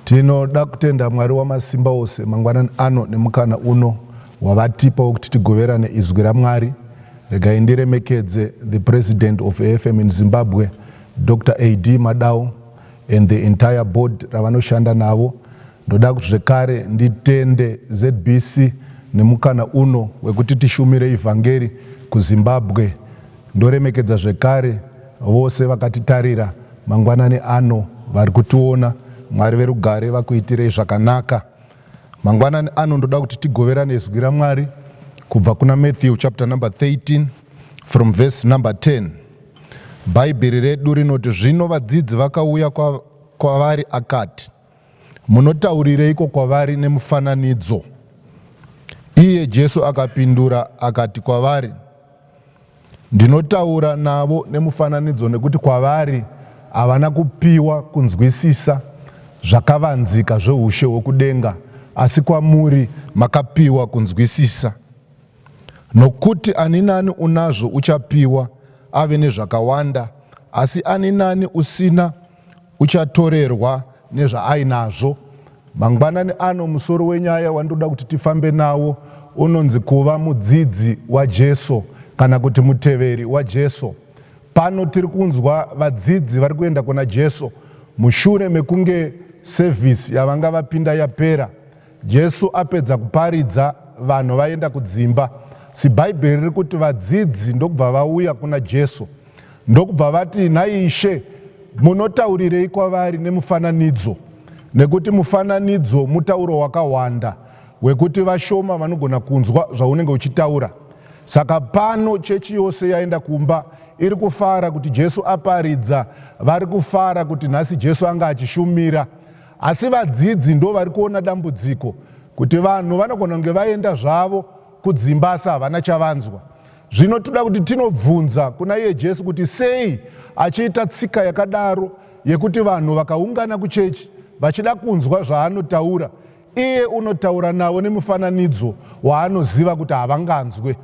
Tinoda kutenda Mwari wamasimba ose mangwanani ano nemukana uno wavatipa wekuti tigoverane izwi raMwari. Regai ndiremekedze the President of AFM in Zimbabwe, Doctor AD Madau and the entire board ravanoshanda navo Ndoda kuti zvekare nditende zbc nemukana uno wekuti tishumire ivhangeri kuZimbabwe. Ndoremekedza zvekare vose vakatitarira mangwanani ano vari kutiona. Mwari verugare vakuitirei zvakanaka. Mangwanani ano ndoda kuti tigoverane zwi raMwari kubva kuna Matthew chapter number 13 from verse number 10. Bhaibheri redu rinoti, zvino vadzidzi vakauya kwa- kwavari akati, Munotaurireiko kwavari nemufananidzo? Iye Jesu akapindura akati kwavari, Ndinotaura navo nemufananidzo nekuti kwavari havana kupiwa kunzwisisa zvakavanzika zveushe hwokudenga, asi kwamuri makapiwa kunzwisisa. Nokuti ani nani unazvo uchapiwa ave nezvakawanda, asi ani nani usina uchatorerwa nezvaainazvo. Mangwanani ano musoro wenyaya wandoda kuti tifambe nawo unonzi kuva mudzidzi waJesu kana kuti muteveri waJesu. Pano tiri kunzwa vadzidzi vari kuenda kuna Jesu mushure mekunge sevhisi yavanga vapinda yapera. Jesu apedza kuparidza, vanhu vaenda kudzimba. Zibhaibheri riri kuti vadzidzi ndokubva vauya kuna Jesu ndokubva vati, Nhai Ishe, munotaurirei kwavari nemufananidzo? Nekuti mufananidzo mutauro wakahwanda wekuti vashoma vanogona kunzwa zvaunenge uchitaura. Saka pano chechi yose yaenda kumba iri kufara kuti Jesu aparidza, vari kufara kuti nhasi Jesu anga achishumira. Asi vadzidzi ndovari kuona dambudziko kuti vanhu vanogona kunge vaenda zvavo kudzimba asi havana chavanzwa. Zvino toda kuti tinobvunza kuna iye Jesu kuti sei achiita tsika yakadaro yekuti vanhu vakaungana kuchechi vachida kunzwa zvaanotaura, iye unotaura navo nemufananidzo waanoziva kuti havanganzwe.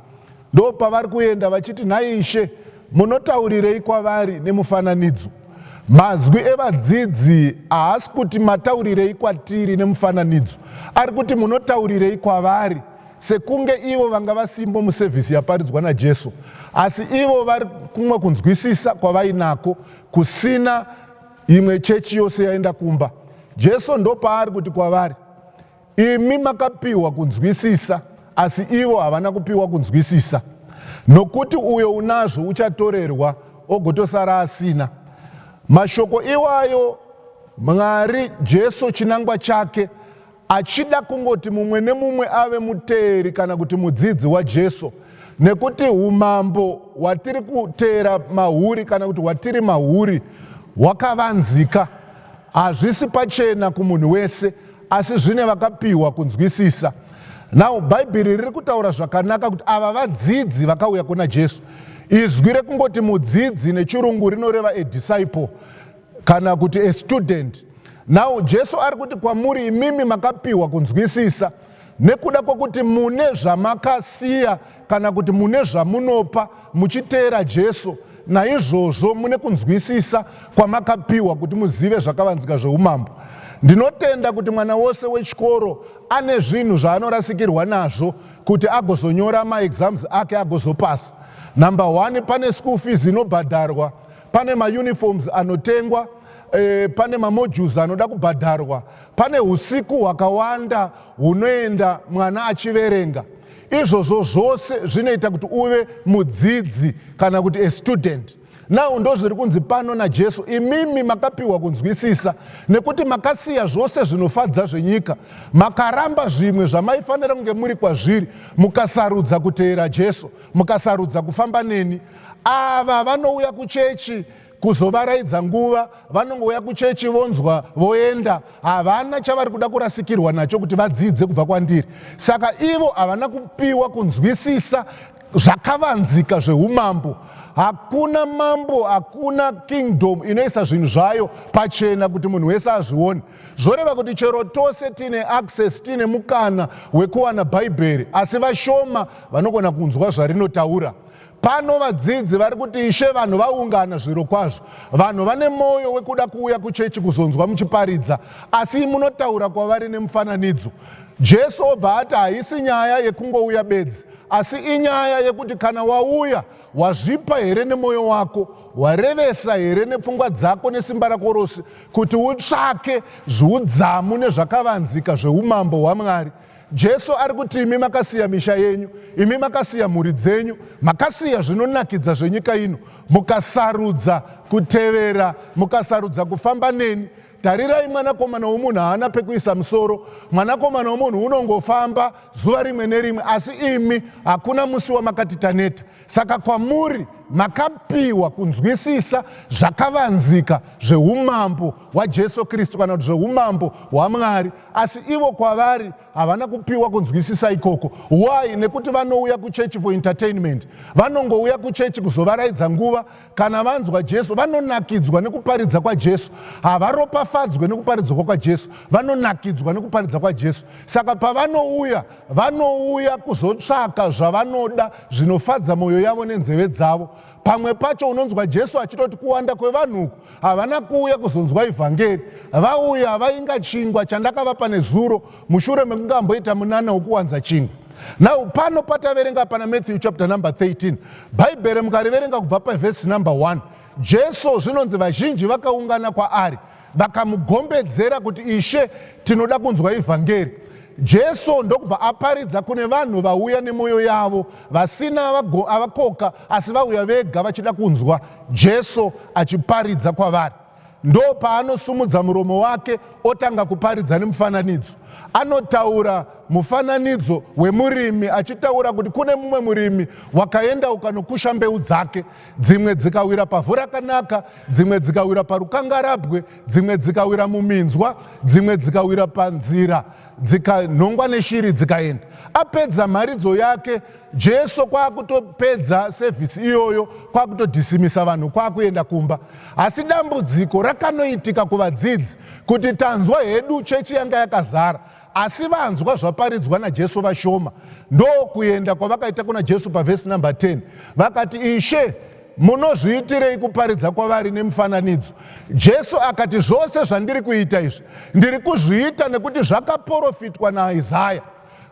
Ndopavari kuenda vachiti, Nhai Ishe, munotaurirei kwavari nemufananidzo? Mazwi evadzidzi haasi kuti mataurirei kwatiri nemufananidzo, ari kuti munotaurirei kwavari, sekunge ivo vanga vasimbo musevhisi yaparidzwa naJesu, asi ivo vari kumwe kunzwisisa kwavainako kusina imwe chechi yose yaenda kumba. Jesu ndopaari kuti kwavari, Imi makapiwa kunzwisisa, asi ivo havana kupiwa kunzwisisa. Nokuti uyo unazvo uchatorerwa, ogotosara asina. Mashoko iwayo Mwari, Jesu, chinangwa chake, achida kungoti mumwe nemumwe ave muteeri kana kuti mudzidzi waJesu, nekuti umambo hwatiri kuteera mahuri kana kuti hwatiri mahuri hwakavanzika. Hazvisi pachena kumunhu wese, Asi zvine vakapiwa kunzwisisa. Now bhaibheri riri kutaura zvakanaka kuti ava vadzidzi vakauya kuna Jesu. Izwi rekungoti mudzidzi nechirungu rinoreva a disciple kana kuti a student. Now Jesu ari kuti kwamuri imimi makapiwa kunzwisisa nekuda kwekuti mune zvamakasiya kana kuti mune zvamunopa muchiteera Jesu, naizvozvo mune kunzwisisa kwamakapiwa kuti muzive zvakavanzika zveumambo. Ndinotenda kuti mwana wose wechikoro ane zvinhu zvaanorasikirwa nazvo kuti agozonyora maexams ake agozopasa. Number one, pane school fees inobhadharwa, pane mauniforms anotengwa, e, pane mamodules anoda kubhadharwa, pane usiku hwakawanda hunoenda mwana achiverenga. izvozvo zvose zvinoita kuti uve mudzidzi kana kuti a student now ndo zviri kunzi pano najesu imimi makapiwa kunzwisisa nekuti makasiya zvose zvinofadza zvenyika makaramba zvimwe zvamaifanira kunge muri kwazviri mukasarudza kuteera jesu mukasarudza kufamba neni ava vanouya kuchechi kuzovaraidza nguva vanongouya kuchechi vonzwa voenda havana chavari kuda kurasikirwa nacho kuti vadzidze kubva kwandiri saka ivo havana kupiwa kunzwisisa zvakavanzika zveumambo hakuna mambo hakuna kingdom inoisa zvinhu zvayo pachena kuti munhu wese azvione zvoreva kuti chero tose tiine access tiine mukana wekuwana bhaibheri asi vashoma vanogona kunzwa zvarinotaura Pano vadzidzi vari kuti ishe vanhu vaungana zvirokwazvo. Vanhu vane mwoyo wekuda kuuya kuchechi kuzonzwa muchiparidza, asi munotaura kwavari nemufananidzo. Jesu obva ati haisi nyaya yekungouya bedzi, asi inyaya yekuti kana wauya, wazvipa here nemwoyo wako, warevesa here nepfungwa dzako nesimba rako rose kuti utsvake zviudzamu nezvakavanzika zveumambo hwaMwari. Jesu ari kuti imi makasiya misha yenyu, imi makasiya mhuri dzenyu, makasiya zvinonakidza zvenyika ino, mukasarudza kutevera, mukasarudza kufamba neni. Tarirai, mwanakomana womunhu haana pekuisa musoro, mwanakomana womunhu unongofamba zuva rimwe nerimwe, asi imi hakuna musi wamakati taneta. Saka kwamuri makapiwa kunzwisisa zvakavanzika zveumambo hwaJesu Kristu kana kuti zveumambo hwaMwari, asi ivo kwavari havana kupiwa kunzwisisa ikoko. Why? Nekuti vanouya kuchechi for entertainment, vanongouya kuchechi kuzovaraidza nguva kana vanzwa jesu vanonakidzwa nekuparidza kwajesu havaropafadzwe nekuparidzwa kwajesu vanonakidzwa nekuparidza kwajesu saka pavanouya vanouya kuzotsvaka zvavanoda zvinofadza mwoyo yavo nenzeve dzavo pamwe pacho unonzwa jesu achitoti kuwanda kwevanhu uku havana kuuya kuzonzwa ivhangeri vauya vainga chingwa chandakavapa nezuro mushure mekunge amboita munana wokuwanza chingwa now pano pataverenga pana matthew chapter number 13 bhaibheri mukariverenga kubva pavhesi number 1 jesu zvinonzi vazhinji vakaungana kwaari vakamugombedzera kuti ishe tinoda kunzwa evhangeri jesu ndokubva aparidza kune vanhu vauya nemwoyo yavo vasina avakoka asi vauya vega vachida kunzwa jesu achiparidza kwavari ndopaanosumudza muromo wake otanga kuparidza nemufananidzo anotaura mufananidzo wemurimi achitaura kuti kune mumwe murimi wakaenda ukanokusha mbeu dzake dzimwe dzikawira pavhu rakanaka dzimwe dzikawira parukangarabwe dzimwe dzikawira muminzwa dzimwe dzikawira panzira dzikanhongwa neshiri dzikaenda apedza mharidzo yake Jesu kwakutopedza service iyoyo kwakutodhisimisa vanhu kwakuenda kumba. Asi dambudziko rakanoitika kuvadzidzi kuti tanzwa hedu chechi yanga yakazara asi vanzwa zvaparidzwa naJesu vashoma. Ndokuenda kwavakaita kuna Jesu pavhesi number 10 vakati ishe munozviitirei kuparidza kwavari nemufananidzo jesu akati zvose zvandiri kuita izvi ndiri kuzviita nekuti zvakaporofitwa naisaya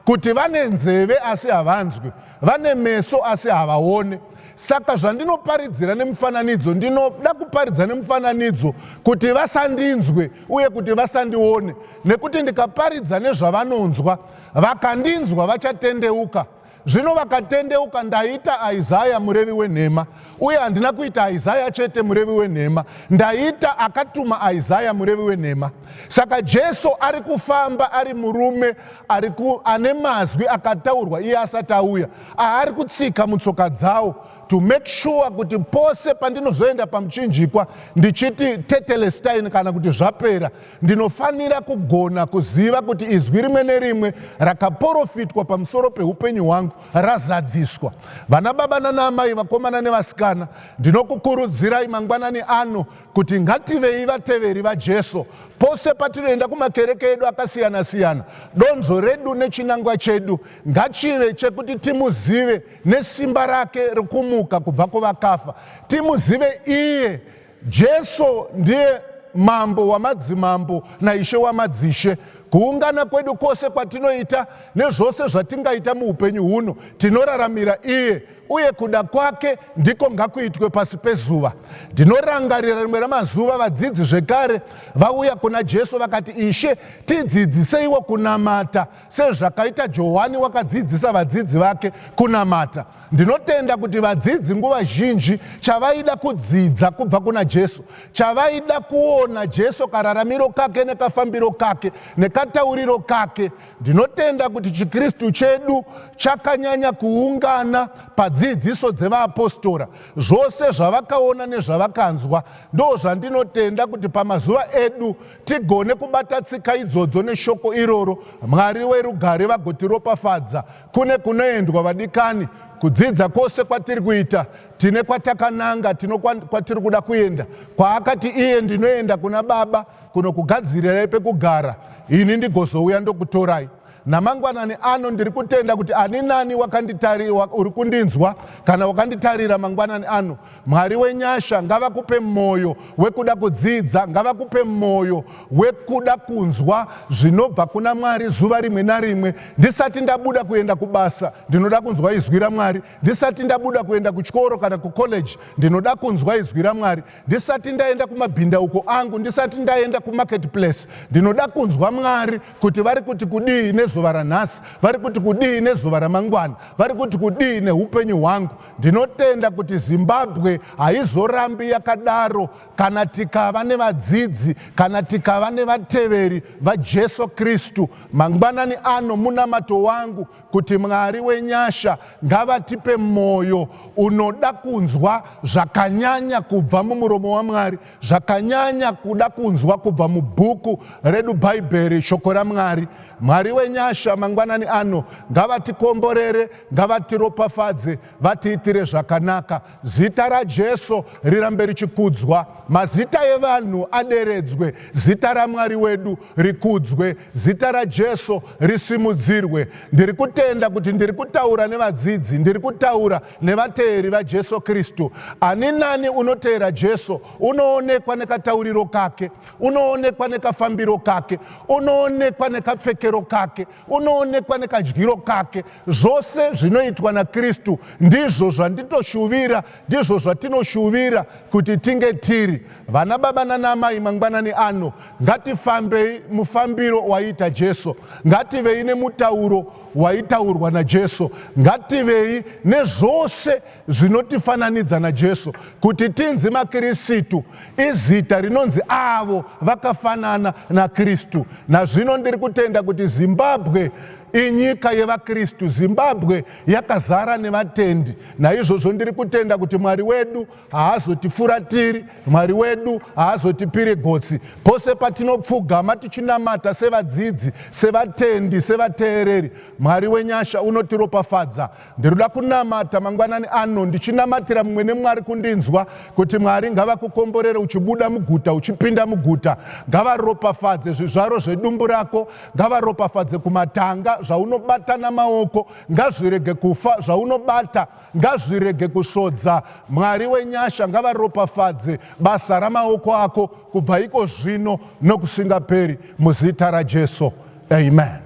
kuti vane nzeve asi havanzwi, vane meso asi havaone. Saka zvandinoparidzira nemufananidzo, ndinoda kuparidza nemufananidzo kuti vasandinzwe uye kuti vasandione, nekuti ndikaparidza nezvavanonzwa, vakandinzwa vachatendeuka. Zvino vakatendeuka, ndaita Isaya murevi wenhema, Uye handina kuita Isaya chete murevi wenhema, ndaita akatuma Isaya murevi wenhema. Saka Jesu ari kufamba ari murume ari ku, ane mazwi akataurwa iye asati auya, aari kutsika mutsoka dzawo to make sure kuti pose pandinozoenda pamuchinjikwa ndichiti tetelestain kana kuti zvapera, ndinofanira kugona kuziva kuti izwi rimwe nerimwe rakaporofitwa pamusoro peupenyu hwangu razadziswa. Vana baba nana amai, vakomana nevasikana, ndinokukurudzirai mangwanani ano kuti ngativei vateveri vaJesu. Pose patinoenda kumakereke edu akasiyana siyana, donzvo redu nechinangwa chedu ngachive chekuti timuzive nesimba rake rekumuka kubva kuvakafa, timuzive iye Jesu ndiye mambo wamadzimambo naishe wamadzishe. Kuungana kwedu kwose kwatinoita nezvose zvatingaita muupenyu huno tinoraramira iye, uye kuda kwake ndiko ngakuitwe pasi pezuva. Ndinorangarira rimwe ramazuva vadzidzi zvekare vauya kuna Jesu vakati, Ishe, tidzidziseiwo kunamata. sezvakaita Johani wakadzidzisa vadzidzi vake kunamata. Ndinotenda kuti vadzidzi nguva zhinji chavaida kudzidza kubva kuna Jesu, chavaida kuona Jesu kararamiro kake nekafambiro kake nekatauriro kake. Ndinotenda kuti chiKristu chedu chakanyanya kuungana padzidziso dzevaapostora. Zvose zvavakaona nezvavakanzwa ndozvandinotenda kuti pamazuva edu tigone kubata tsika idzodzo neshoko iroro mwari werugare vagotiropafadza kune kunoendwa vadikani kudzidza kwose kwatiri kuita tine kwatakananga tino kwatiri kuda kuenda kwaakati iye ndinoenda kuna baba kunokugadzirirai pekugara ini ndigozouya ndokutorai Namangwanani ano ndiri kutenda kuti ani nani wakanditarira uri kundinzwa kana wakanditarira mangwanani ano, Mwari wenyasha ngavakupe mwoyo wekuda kudzidza, ngavakupe mwoyo wekuda kunzwa zvinobva kuna Mwari zuva rimwe narimwe. Ndisati ndabuda kuenda kubasa, ndinoda kunzwa izwi raMwari. Ndisati ndabuda kuenda kuchikoro kana kucollege, ndinoda kunzwa izwi raMwari. ndisati ndaenda kumabhindauko angu ndisati ndaenda kumarket place ndinoda kunzwa mwari kuti vari kuti kudii nezuva ranhasi vari kuti kudii nezuva ramangwana vari kuti kudii neupenyu hwangu ndinotenda kuti zimbabwe haizorambi yakadaro kana tikava nevadzidzi kana tikava nevateveri vajesu kristu mangwanani ano munamato wangu kuti Mwari wenyasha ngavatipe mwoyo unoda kunzwa zvakanyanya kubva mumuromo waMwari, zvakanyanya kuda kunzwa kubva mubhuku redu Bhaibheri, shoko raMwari. Mwari wenyasha mangwanani ano ngavatikomborere, ngavatiropafadze, vatiitire zvakanaka. Zita raJesu rirambe richikudzwa, mazita evanhu aderedzwe, zita raMwari wedu rikudzwe, zita raJesu risimudzirwe. Ndiri kutenda kuti ndiri kutaura nevadzidzi, ndiri kutaura nevateeri vaJesu Kristu. Ani nani unoteera Jesu unoonekwa nekatauriro kake, unoonekwa nekafambiro kake, unoonekwa nekapfekero kake, unoonekwa nekadyiro kake zvose zvinoitwa nakristu ndizvo zvanditoshuvira ndizvo zvatinoshuvira kuti tinge tiri vana baba nanamai mangwanani ano ngatifambei mufambiro waiita jesu ngativei nemutauro waitaurwa najesu ngativei nezvose zvinotifananidza naJesu. Kuti tinzi maKirisitu izita rinonzi avo vakafanana naKristu. Nazvino ndiri kutenda kuti Zimbabwe inyika yevaKristu. Zimbabwe yakazara nevatendi. Naizvozvo ndiri kutenda kuti Mwari wedu haazotifuratiri, Mwari wedu haazotipiri gotsi. Pose patinopfugama tichinamata sevadzidzi, sevatendi, sevateereri, Mwari wenyasha unotiropafadza. Ndinoda kunamata mangwanani ano ndichinamatira mumwe nemwari kundinzwa kuti mwari ngavakukomborere uchibuda muguta uchipinda muguta ngavaropafadze zvizvaro zvedumbu rako ngavaropafadze kumatanga zvaunobatana maoko ngazvirege kufa zvaunobata ngazvirege kusvodza mwari wenyasha ngavaropafadze basa ramaoko ako kubva iko zvino nokusingaperi muzita rajesu amen